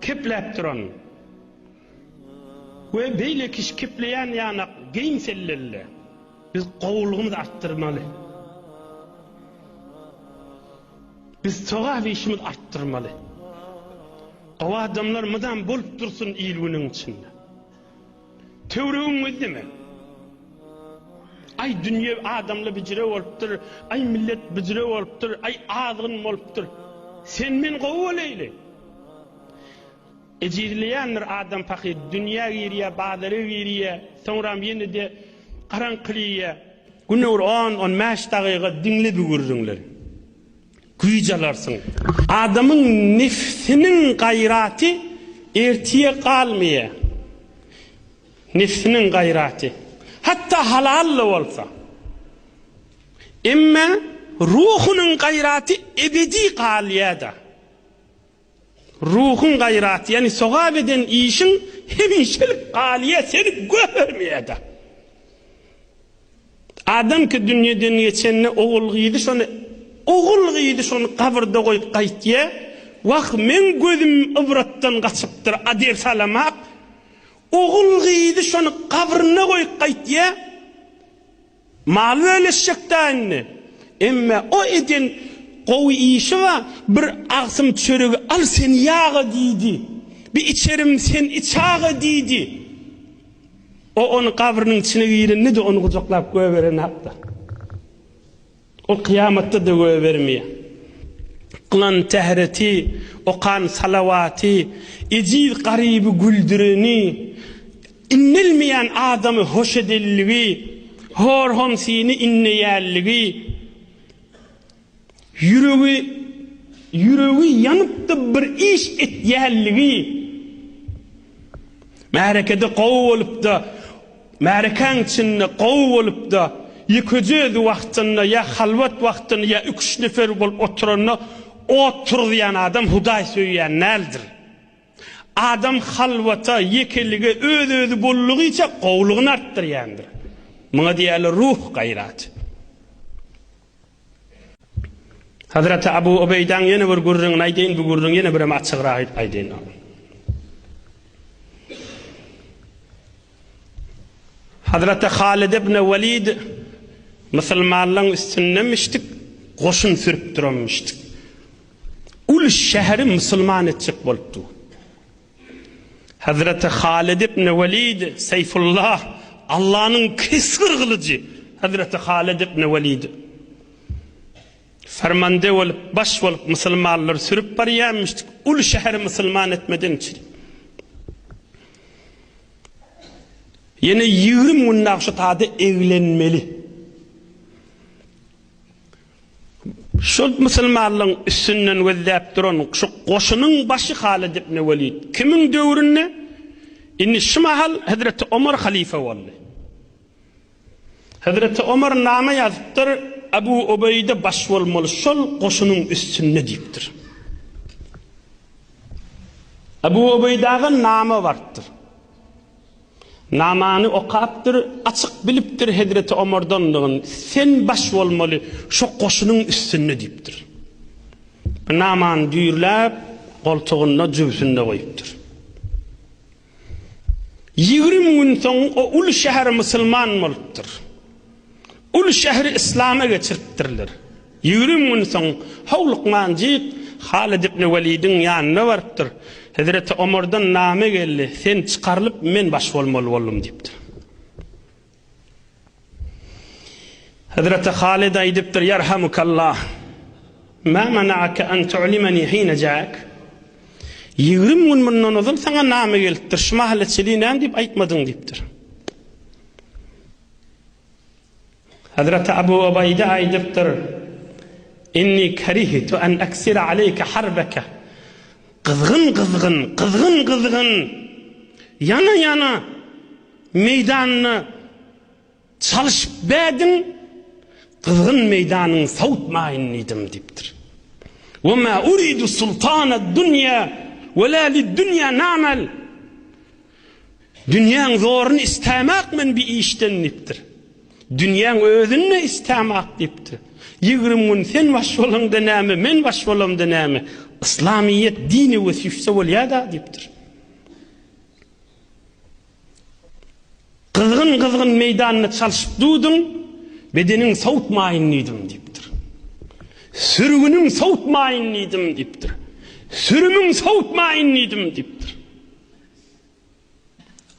Kepläp duran we beýle kişi kepleýän ýanak geýim sellelli. Biz gowulygymyzy artdyrmaly. Biz sogap işimiz artdyrmaly. Gowy adamlar mydam bolup dursun il-günüň içinde. Töwregiň özi neme? Aý, dünýe adamly bijire bolupdyr, aý, millet bijire bolupdyr, aý, azgyn bolupdyr. Sen-men gowy bolaýly. Ejizleýändir adam pahyr. Dünýä girýär, bazara girýär, soňram ýene-de garaňkylyýar. Günde bir on-on bäş dagyga diňle bu gürrüňleri. güýj alarsyň. Adamyň nebsiniň gaýraty ertire galmaýar. Nebsiniň gaýraty, hatda halal-da bolsa. Emma ruhunyň gaýraty ebedi galýar-da. Ruhuň gaýraty, ýagny sogap eden işiň hemişelik galyýar, seni göhermeýär-de. Adam ki dünýeden geçende ogul-gyzy şony ogul-gyzy şony gabyrda goýup gaýtýar, Wah, meň gözüm ybratdan gaçypdyr, a diýip salamak, ogul-gyzy şony gabryna goýup gaýtýar, Mal bölüşjek da indi. Emme o eden gowy işi ba bir agsym çöregi al sen ýe aga diýdi. Bi içerim sen iç aga diýdi. O ony gabrynyň içine girende de ony gujaklap göberenakda. Ol kyýamatda-da goýbermeýär. Klan tähreti, okan salawaty, ejiz garyby güldüreni, indelmeýän adamy hoş edenligi, hor-homsyny indeýänligi, ýüregi ýüregi ýanyp-da bir iş etýänligi, märekede gowy bolup-da Märekäň içinde gowy bolupda ýekeje özi wagtynda ýa halwat wagtynda ýa iki üç nefer bolup oturanda ot turuzýan adam hudaý söýýän däldir. Adam halwata, ýekelige, öz özi bollugyça gowlugyny artdyrýandyr. Muňa diýýärler ruh gaýraty. Hazreti Abu Ubeýdaň ýene bir gürrüňini aýdaýyn bu gürrüň ýene birem açygrak aýdaýyn. Hazreti Halid ibn Walid musulmanlaryň üstünde müştik goşun sürüp duran müştik. Ul şäheri musulman etjek bolupdy. Hazreti Halid ibn Walid Seyfullah Allah'nın kesgir gylyjy Hazreti Halid ibn Walid fermande olup baş olup musulmanlar sürüp barýan müştik ul şäheri musulman etmeden çiri. Ýene ýigrimi gün Nagşutada eglenmeli. Şol musulmanlygyň üstünden gözläp duran şu goşunyň başy Halyt ibn Welid kimiň döwründe? Indi şu mahal hezreti Omar halyfa boldy. Hezreti Omar name ýazypdyr, Abu Ubeýde baş bolmaly şol goşunyň üstünde diýipdir. Abu Ubeýdaga name barypdyr. Namany okapdyr, açyk bilipdir Hezreti Omardandygyny, sen baş bolmaly şo goşunyň üstünde diýipdir. Namany düýrläp, goltugynda, jübsünde goýupdyr. Ýigrimi gün soň o uly şäher musulman bolupdyr. Uly şäheri yslama geçiripdirler. Ýigrimi gün soň Howlyk Manjyk Halid ibn Welidiň ýanyna barypdyr. Hezreti Omardan name geldi, sen çykarylyp, men baş bolmaly boldum diýipdir. Hezreti Halyda aýdypdyr, Ýerhamukallah, Mä mena'ake an tu'limeni hine ja'ek? Ýigrimi gün mundan ozal saňa name gelipdir, şu mahaly çili näme diýip aýtmadyň diýipdir. Hezreti Abu Ubaýda aýdypdyr, Inni karihitu an aksira aleýke harbeke. Gyzgyn-gyzgyn, gyzgyn-gyzgyn, ýana-ýana meýdanyna çalyşyp bädiň, gyzgyn meýdanyň sowutmaýyn diýdim diýipdir. Ve ma uridu sultanad dunýa ve la lid dunýa namel. Dünýäň zoruny istämak men bi işden diýipdir. Dünýäň özünde istämak diýipdir. Ýigrim gün sen baş bolaňda näme, men baş bolamda näme? Yslamyýet dini ve süýse bolýada diýipdir. Gyzgyn-gyzgyn meýdanda çalşyp duduň, Bedeniň sowutmaýyn diýdim diýipdir. Sürgüniň sowutmaýyn diýdim diýipdir. Sürümiň sowutmaýyn diýdim diýipdir.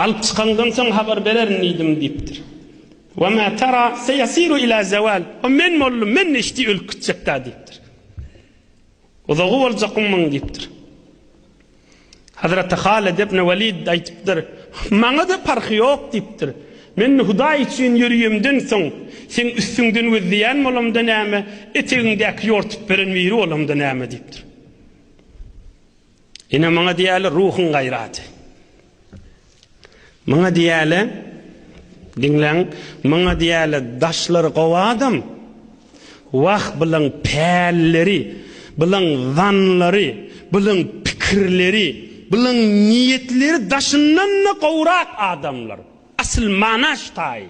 Alyp çykaňdan soň habar bererin diýdim diýipdir. Wa ma tara seýasiru ila zawal. O men boldum, men neşdi ölüp gitjek-dä diýipdir. Uzagy boljak munuň diýipdir. Hazreti Halid ibn Walid aýdypdyr, Maňa-da parhy ýok diýipdir. Men Hudaý üçin ýörýemden soň, seň üstüňden gözleýän bolamda näme, etegiňdäki ýortup beren biri bolamda näme diýipdir. Ine muňa diýeli ruhuň gaýraty. Muňa diýeli diňleň, muňa diýeli daşlary gowy adam. Wah bulan pälleri, bulan zanlary, bulan pikirleri, bulan niýetleri daşyndan-da gowrak adamlar. Asyl manaş taýy.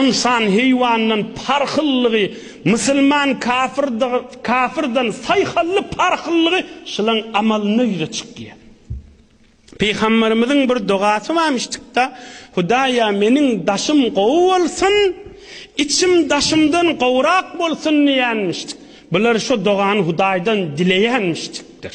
Ynsan heýwandan parhyllygy, musulman kafyrdan saýhally parhyllygy şylaň amalynda ýüze çykýar. Pygamberimiziň bir dogasy barmyşdykda, Hudaýa meniň daşym gowy bolsun, içim daşymdan gowrak bolsun diýenmişdik. Bular şo dogany Hudaýdan dileýänmişdikdir.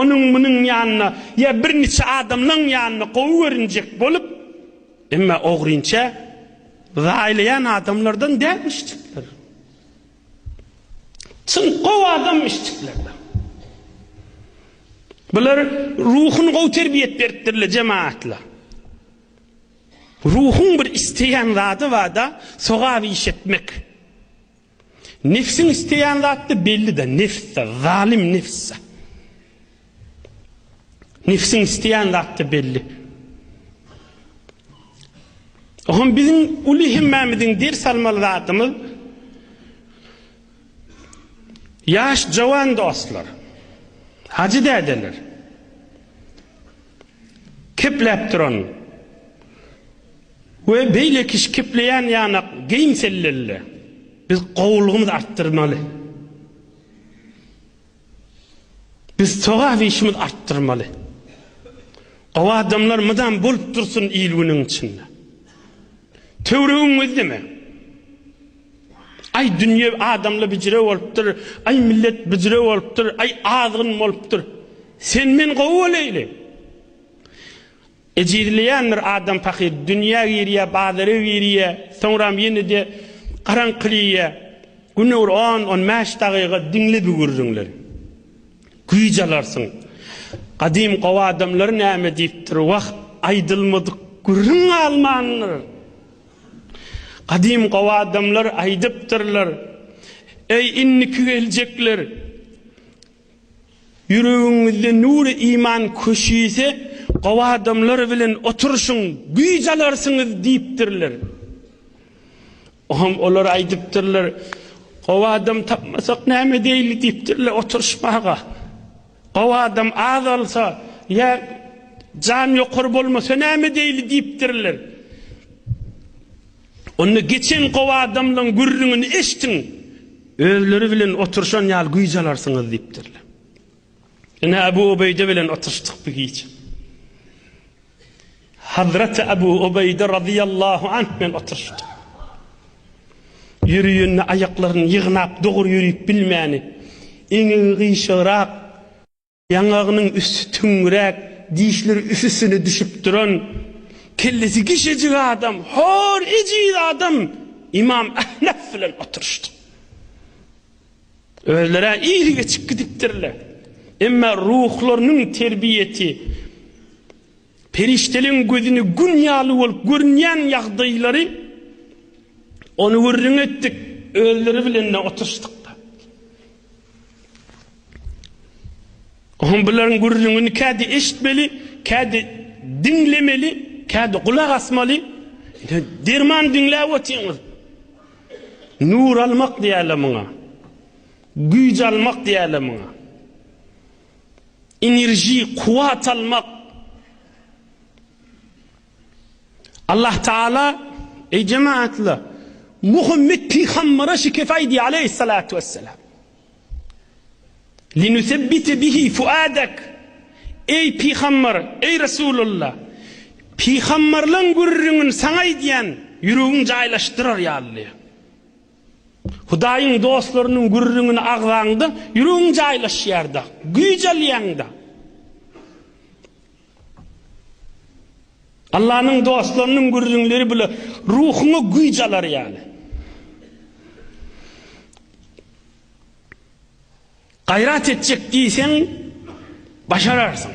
Onuň-munuň ýanyna ýa bir niçe adamlaň ýanyna gowy görünjek bolup, emma ogrynça zaýlaýan adamlardan däl işjikler. Çyn gowy adam işjiklerle. Bular ruhuny gowy terbiýet beripdirle jemaatla. Ruhuň bir isleýän zady bada sogap iş etmek. Nefsiň isleýän zatda belli-de, nefs-de, zalym nefs-de. Nefsiň isleýän zatda belli. Oňa biziň uly hemmämiziň ders almaly zadymyz Ýaş jawan dostlar, hajy dädeler. Kepläp duran we beýleki şkepleýän ýanak geýim sellelli. Biz gowulygymyzy artdyrmaly. Biz sogap işimiz artdyrmaly. Gowy adamlar mydam bolup dursun il-günüň içinde. Töwregiň gözleme. Aý dünýe adamly bijire bolupdyr, aý millet bijire bolupdyr, aý azgyn bolupdyr. Sen men gowy boleýli. Ejizleýän bir adam pahyr dünýä girýär, bazara girýär, soňram ýene-de garaňkyleýär. Günde bir on, on bäş dagyga diňle bu gürrüňleri. Güýç alarsyň. Gadym gowy adamlar näme diýipdir, Wah, aýdylmadyk gürrüň galmandyr. Gadym gowy adamlar aýdypdyrlar, Eý, indiki geljekler! Ýüregiňizde nury iman köşüse, gowy adamlar bilen oturyşyň, güýç alarsyňyz diýipdirler. Oňam olar aýdypdyrlar, Gowy adam tapmasak näme edeýli diýipdirler oturyşmaga. Gowy adam azalsa ýa jan ýokary bolmasa näme edeýli diýipdirler. Onda geçen gowy adamlaň gürrüňini eşitiň, özleri bilen oturyşan ýaly güýç alarsyňyz diýipdirler. Ine Abu Ubeýde bilen oturyşdyk bir gije. Hazreti Abu Ubeýde razyýallahu anh bilen oturyşdyk. Ýöreýänine aýaklaryny ýygnap dogry ýörüp bilmäni, eňegi gyşagyrak, Ýaňagynyň üsti tüňňüräk, dişleri üst-üstüne düşüp duran, kellesi gişejik adam, hor, ejiz adam ymam Ahnaf bilen oturyşdy. Özler-ä iri geçip gidipdirler. Emma ruhlarynyň terbiýesi, perişdeleň gözüne gün ýaly bolup görünýän ýagdaýlary ony gürrüň etdik, özleri bilen-de oturyşdyk. Oňa bularyň gürrüňini kädi eşitmeli, kädi diňlemeli, kädi gulak asmaly. Ine, derman diňläp otyrňyz. Nur almak diýerler muňa. Güýç almak diýerler muňa. Enerji, kuwwat almak. Allah Taala, Eý jemaatlar, Muhammet pygambere şikes aýdy aleýhissalatu wessalam. Linusebbite bihi fuadak. Eý pygamber, eý Resulullah, pygamberliň gürrüňini saňa aýdýan ýüregiň jaýlaşdyrar ýaly. Hudaýyň dostlarynyň gürrüňini agzaňda ýüregiň jaýlaşýar-da, güýç alýaň-da. Allanyň dostlarynyň gürrüňleri bile ruhuňa güýç alar ýaly. Gaýrat etjek diýseň, başararsyň.